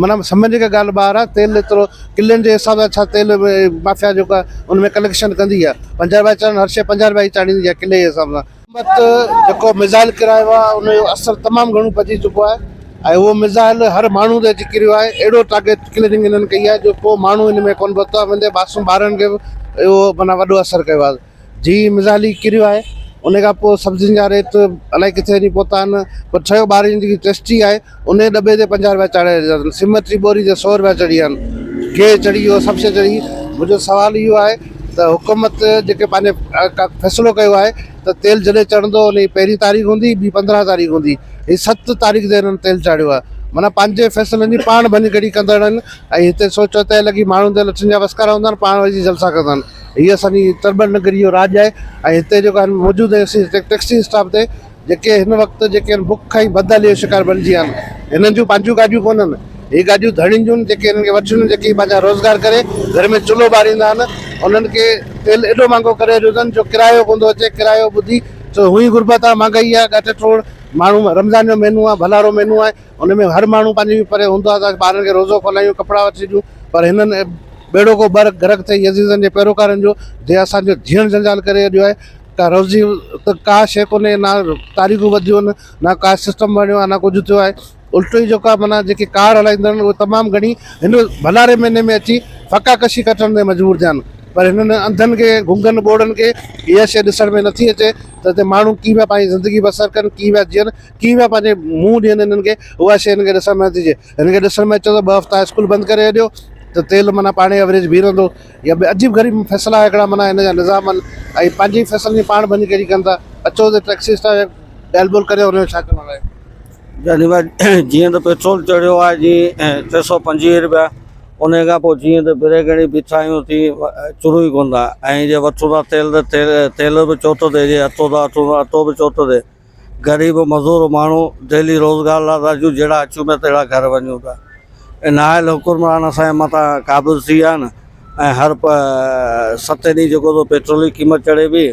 معنيٰ سمجهڻ جي ڪا ڳالهه ٻاهر آهي تيل ايترو ڪلن جي حساب سان ڇا تيل مافيا جيڪو آهي ان ۾ ڪليڪشن ڪندي آهي پنجاهه رپيا چڙهن هر شيء پنجاهه رپيا ئي چاڙهيندي آهي ڪلي جي حساب سان. حڪومت جيڪو ميزائل ڪرايو آهي ان جو اثر تمام گهڻو پئجي چڪو آهي ۽ اهو ميزائل هر ماڻهو تي اچي ڪريو آهي اهڙو ٽارگيٽ ڪلننگ انهن ڪئي آهي جو ڪو ماڻهو ان ۾ ڪونه بچو آهي وندي معصوم ٻارن کي به اهو معنيٰ وڏو اثر ڪيو آهي. جي مزالي ڪريو آهي ان کان پوء سبزين جا ريت الائي ڪٿي وڃي پهتا آهن پر ٺهيو ٻاري جي جيڪي ٽيسٽي آهي ان جي ڏٻي تي پنجاهه رپيا چاڙهي ڇڏيا اٿن سيمت جي ٻوري تي سؤ رپيا چڙهي ويا آهن گيهه چڙهي ويو سڀ شيء چڙهي منهنجو سوال اهو آهي ته حڪومت جيڪي پنهنجي فيصلو ڪيو آهي ته تيل جڏهن چڙهندو ان جي پهرين تاريخ هوندي ٻي پندرهن تاريخ هوندي هي ست تاريخ تي هنن تيل چاڙهيو آهي معنيٰ پنهنجي فيصلن جي پاڻ ڀڃڪڙي ڪندڙ آهن ۽ هتي سوچ وتي لڳي ماڻهن تي لٺن جا وسڪارا هوندا آهن پاڻ وڃي جلسا ڪندا آهن. هي اسان جي تربت نگري جو راڄ آهي ۽ هتي جيڪو آهن موجود ٽيڪسي اسٽاپ تي جيڪي هن وقت جيڪي آهن بک ۽ بدحالي جو شڪار بڻجي ويا آهن هنن جون پنهنجون گاڏيون ڪونهن هي گاڏيون ڌڻين جون جيڪي هنن کي وٺيون جيڪي پنهنجا روزگار ڪري گهر ۾ چلهو ٻاريندا آهن انهن کي تيل ايڏو مهانگو ڪري رهيو اٿن جو ڪرايو ڪون ٿو اچي ڪرايو ٻڌي ڇو هونئي غربت آهي مهانگائي آهي ڳاٽ ٽوڙ ماڻهو رمضان جو مهينو آهي ڀلارو مهينو آهي ان ۾ هر ماڻهو پنهنجي پري هوندو آهي ته اسان ٻارن کي روزو کولائيون، ڪپڙا وٺي ڏيون، پر هنن ٻيڙوڪو ٻرڪ غرق ٿئي عزيزن جي پيروڪارن جو، جنهن اسان جو جيئڻ جنجال ڪري ڇڏيو آهي. ڪا روزي ته ڪا شيء ڪونهي، نه تاريخون وڌيون آهن، نه ڪا سسٽم بڻيو آهي، نه ڪجهه ٿيو آهي، الٽو ئي جيڪا معنيٰ جيڪي ڪار هلائيندڙ آهن اهي تمام گهڻي هن ڀلاري مهيني ۾ اچي ڦڪا ڪشي ڪٽڻ تي مجبور ٿيا آهن، پر هنن انڌن کي، گنگن ٻوڙن کي اها شيء ڏسڻ ۾ نٿي اچي ته هتي ماڻهو ڪيئن پيا پنهنجي زندگي بسر ڪن، ڪيئن پيا جيئن. ڪيئن پيا پنهنجي منهن ڏين هنن کي اها شي هن کي ڏسڻ ۾ نٿي اچي هن کي ڏسڻ ۾ اچي ته ٻه هفتا اسڪول بند ڪري ڇڏيو ته تيل معنيٰ پاڻهي ايوريج بيهي رهندو يا ٻيا عجيب غريب فيصلا هڪڙا معنيٰ هن جا نظام آهن ۽ پنهنجي ئي فيصلن جي پاڻ ڀڃ ڪيڙي ڪن ٿا اچو ته ٽيڪسي اسٽاف جي ڳالهه ٻولهه ڪريو هن جو ڇا ڪرڻو آهي. جاني ڀاء جيئن ته پيٽرول چڙهيو آهي جي ٽي سؤ پنجويهه روپيا انهي کان پوء جيئن ته بريڪ هڻي بيٺا آهيون تي چڙهون ئي ڪونه ٿا ۽ جي وٺون ٿا تيل ته تيل به چوٿو ٿئي جي اٽو ٿا وٺون ته اٽو به چوٿو ٿئي غريب مزور ماڻهو دهلي روزگار لا ٿا اچون جهڙا اچون پيا تهڙا گهر وڃون ٿا اي نااهل حڪمران اسان جي مٿان قابض ٿي ويا آهن ۽ هر ستين ڏينهن جيڪو ٿو پيٽرول جي قيمت چڙهي پئي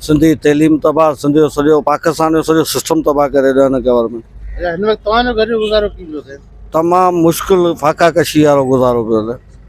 سنڌي تعليم تباهه سنڌ جو سڄو پاڪستان جو سڄو سسٽم تباهه ڪري ڏيو هن گورنمينٽ اچا هن وقت توهان جو گهر جو گذارو ڪيئن پيو ٿئي؟ تمام مشڪل فاقا ڪشي وارو گذارو پيو ٿئي.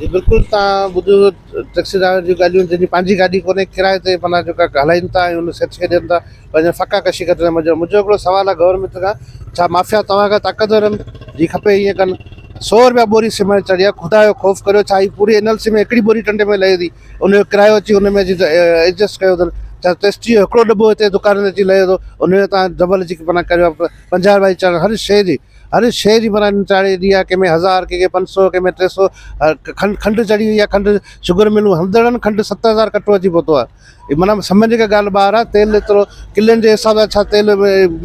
جي بلڪل تان ٻڌو ٽيڪسي ڊرائيور جون ڳالهيون جن جي پنهنجي گاڏي ڪونهي ڪرايي تي معنيٰ جيڪا هلائين ٿا ۽ ان سيٺ کي ڏين ٿا پنهنجا ڦڪا ڪشي ڪري منهنجو منهنجو هڪڙو سوال آ گورنمينٽ کان ڇا مافيا توهان کان طاقتور آهن جي کپي ائين ڪن سو روپيا بوري سيمينٽ چڙهي آ خدا جو خوف ڪريو ڇا هي پوري اين ايل سي ۾ هڪڙي بوري ٽنڊي ۾ لهي ٿي ان جو ڪرايو اچي ان ۾ اچي ايڊجسٽ ڪيو اٿن ڇا ٽيسٽي جو هڪڙو ڏٻو هتي دڪان تي اچي لهي ٿو ان جو تان ڊبل اچي معنيٰ ڪريو پنجاهه روپيا چڙهڻ هر شي جي اري شيء جي برانڊ نچاڙي ايڏي آ، ڪنهن ۾ هزار، ڪنهن کي پنج سؤ، ڪنهن ۾ ٽي سؤ کنڊ کنڊ چڙهي وئي آ، کنڊ شگر ملون هلندڙن کنڊ ست هزار ڪٽو اچي پهتو آ، معنيٰ سمجهه جيڪا ڳالهه ٻاهر آ، تيل ايترو ڪلين جي حساب سان ڇا تيل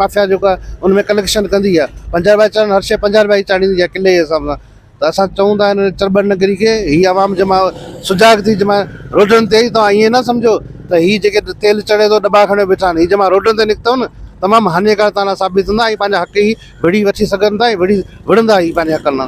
مافيا جيڪو آ ان ۾ ڪليڪشن ڪندي آ، پنجاهه رپيا چڙهن هر شيء پنجاهه رپيا ئي چاڙهيندي آ ڪلي جي حساب سان. ته اسان چئون ٿا ان چرٻر نگري کي هي عوام جي مان سجاڳ ٿي جي مان روڊن تي ايئن توهان نه سمجهو ته هي جيڪي تيل چڙهي ٿو ڏٻا کڻي بيٺا آهن هي جي مان روڊن تي نڪتو نه تمام هاڃيڪار تان لا ثابت ٿيندا ۽ پنهنجا حق هي وڙهي وٺي سگهن ٿا ۽ وڙهي وڙهندا هي پنهنجي حقن لا